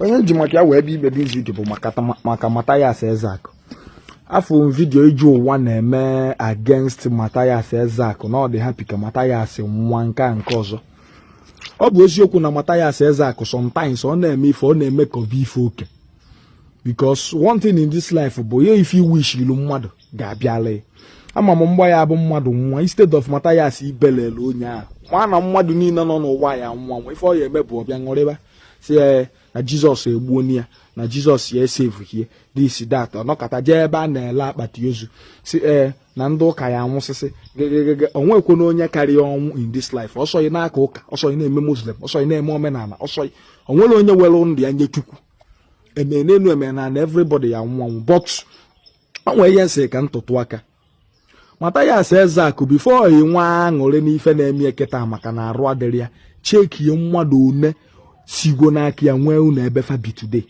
onye ji maka ya wee bịa ime this video bụ maka Mathias Ezeaku afụ video Ije Ụwa na-eme against Mathias Ezeaku na ọ dị happy ka Mathias nwa nke a nke ọzọ ọ bụ eziokwu na Mathias Ezeaku sometimes ọ na-eme ife ọ na-eme ka ọ bụ ife oke because one thing in this life bụ ya ife ị wishilu mmadụ ga-abịala ya ama m mgba ya bụ mmadụ nwa instead of Mathias ibelele onye ahụ ma na mmadụ niile nọ n'ụwa ya-anwụ anwụ ife ọ ya-eme bụ ọ bịa ṅụrịba sị ya eh, na Jesus egbuo ya na Jesus ya esevuhie this that ọ nọkata jee ebe a na-ele akpati ozu sị ee eh, na ndị ụka ya anwụsịsị gegegege o nwekwanụ onye karị ọnwụ in this life ọ sọ ghị na-aka ụka ọ sọ ghị na-eme Muslim ọ sọ ghị na-eme omenala ọ sọ ghị o nwere onye were ndụ ya nye Chukwu e mee n'enu e mee n'ala everybody ya-anwụ ọnwụ but o nwe ihe m sị ka m tụtụ aka Mathias Ezeaku before ị nwee aṅụrị n'ife na-eme ya kịta maka na arụ adịrị ya checkie mmadụ one sigwo n'aka ya nwee ụnọ ebe fa bi today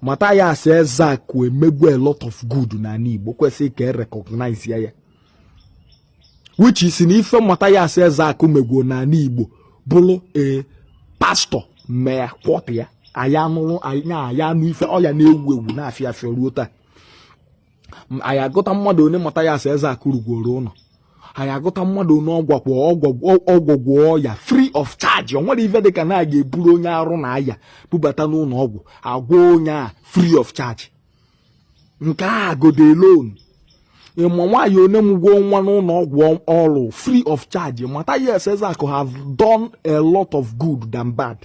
Mathias Ezeaku emegwu a lot of good n'ala Igbo kwesịrị ka e recognize ya ya which is na ife Mathias Ezeaku megwuo n'ala Igbo bụrụ ee pastor mee quarter ya anyị anụrụ anyị anụ ife ọ ya na-ewu ewu na-afịa afịa ruo taa M- anyị agụta mmadụ one Mathias Ezeaku rụgworo ụlọ anyị agụta mmadụ one ọ gwọgwo ọ gwọgwo ọ gwọgwo ọya free of charge o nwere ife dịka na a ga-eburu onye arụ na-aya bubata n'ụlọ ọgwụ a gwọọ onye a free of charge nke a gode loan ị ma nwaanyị one mụgwo nwa n'ụlọ ọgwụ ọ rụ free of charge Mathias Ezeaku have done a lot of good than bad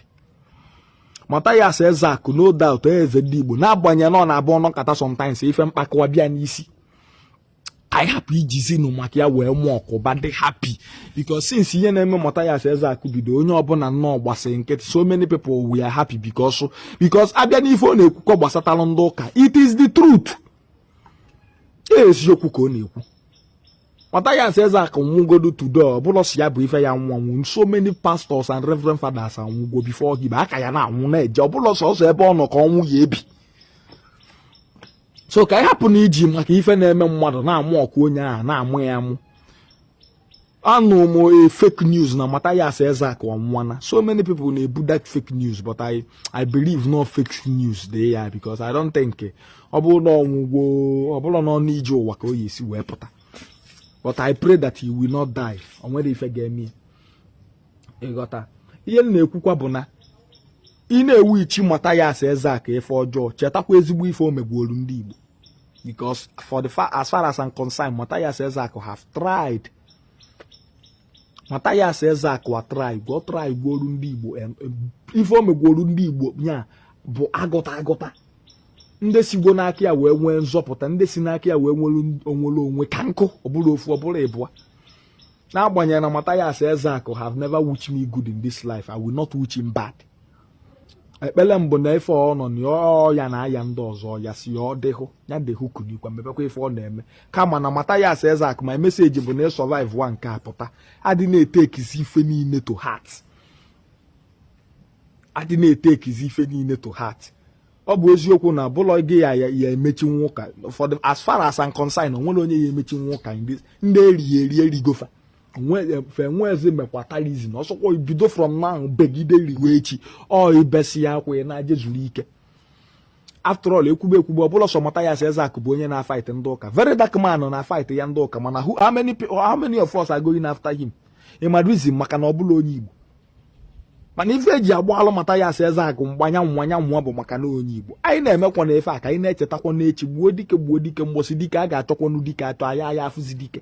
Mathias Ezeaku no doubt eze ndị Igbo n'agbanyeghị na ọ na-abụ ọ nọkata sometimes ife mkpakọwa bịa n'isi anyị hapụ ijizinụ maka ya wee mockụba dị happy because since ihe na-eme Mathias Ezeaku bido onye ọbụla nọ gbasịrị nkịtị so many people were happy because because a bịa n'ife ọ na-ekwukọ gbasatalụ ndị ụka it is the truth eziokwu ka ọ na-ekwu Mathias Ezeaku nwụgodu today ọ bụrọ sọ ya bụ ife ya-anwụ anwụ so many pastors and reverend fathers anwụgo before him a ka ya na-anwụ na-eje ọ bụrọ sọsọ ebe ọ nọ ka ọnwụ ya-ebi so ka anyị hapụnụ iji maka ife na-eme mmadụ na-amockụ onye ahụ na-amụ ya amụ anụ m a fake news na Mathias Ezeaku ọ nwụwana so many people na-ebu that fake news but I I believe na ọ fake news dị ya because I don't think ọ bụrụ na ọ nwụgwo ọ bụrọ n'ọnụ Ije Ụwa ka ọ ya-esi wee pụta but I pray that he will not die o nwerọ ife ga-eme ị ghọta ihe m na-ekwukwa bụ na ị na-ewishi Mathias Ezeaku ife ọjọọ chetakwa ezigbo ife o megworu ndị Igbo because for the far, as far as I'm concerned Mathias Ezeaku have tried Mathias Ezeaku a try gwo try gwuoru ndị Igbo ife o megwuoru ndị Igbo ya bụ a gụta a gụta ndị sigwo n'aka ya wee nwee nzọpụta ndị si n'aka ya wee nwere onwere onwe ka nkụ ọ bụrụ ofu ọ bụrụ ịbụa n'agbanyeghị na Mathias Ezeaku have never wish me good in this life I will not wish him bad ekpere m bụ na ife ọ nọ na ọya na-aya ndị ọzọ ya si ya ọ dịhụ ya dịhụ kunikwa mebekwa ife ọ na-eme kama na Mathias Ezeaku my message bụ na ị survive wa nke a pụta adịna etekizi ife niile to heart adịna etekizi ife niile to heart ọ bụ eziokwu na ọ bụrọ gị ya ya emechi ụka ụfọdụ as far as I'm concerned o nwerọ onye ya emechi ụka ndị e riri eri e rigo fa fa enwezi mekwatalizm ọ sọkwa ị bido from now begide ruwe echi ọ ị besịa akwa naa je zuru ike after all ekwube ekwube ọ bụrọ sọ Mathias Ezeaku bụ onye na fight ndị ụka Very Dark Man na fight ya ndị ụka mana how many how many of us are going after him ị ma the reason maka na ọ bụrọ onye Igbo mana ife e ji agbalụ Mathias Ezeaku mgbe anyanwụ nwanyanwụ bụ maka na onye Igbo anyị na-emekwa na ife a ka anyị na-echetakwa n'echi gbuo dike gbuo dike mbọsị dike a ga-achọkwanụ dike a chọọ ya aya afụzi dike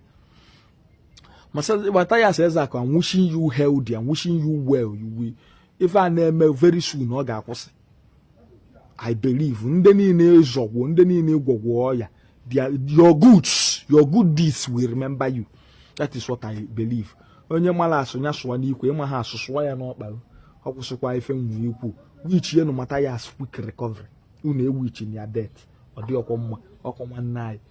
Mathias Ezeaku I'm wishing you healthy I'm wishing you well you will ife a na-eme very soon ọ ga-akwụsị I believe ndị niile ị zọgwo ndị niile ị gwọgwo ọya your goods your good deeds will remember you that is what I believe onye mara asụ ya sụwa n'ikwe ị maha asụ sụwa ya n'ọkpa ọ kwụsịkwa ife m nwere ikwu wichienụ Mathias quick recovery unu ewichina ya death ọ dịrọkwa mma ọ kwa nwanne anyị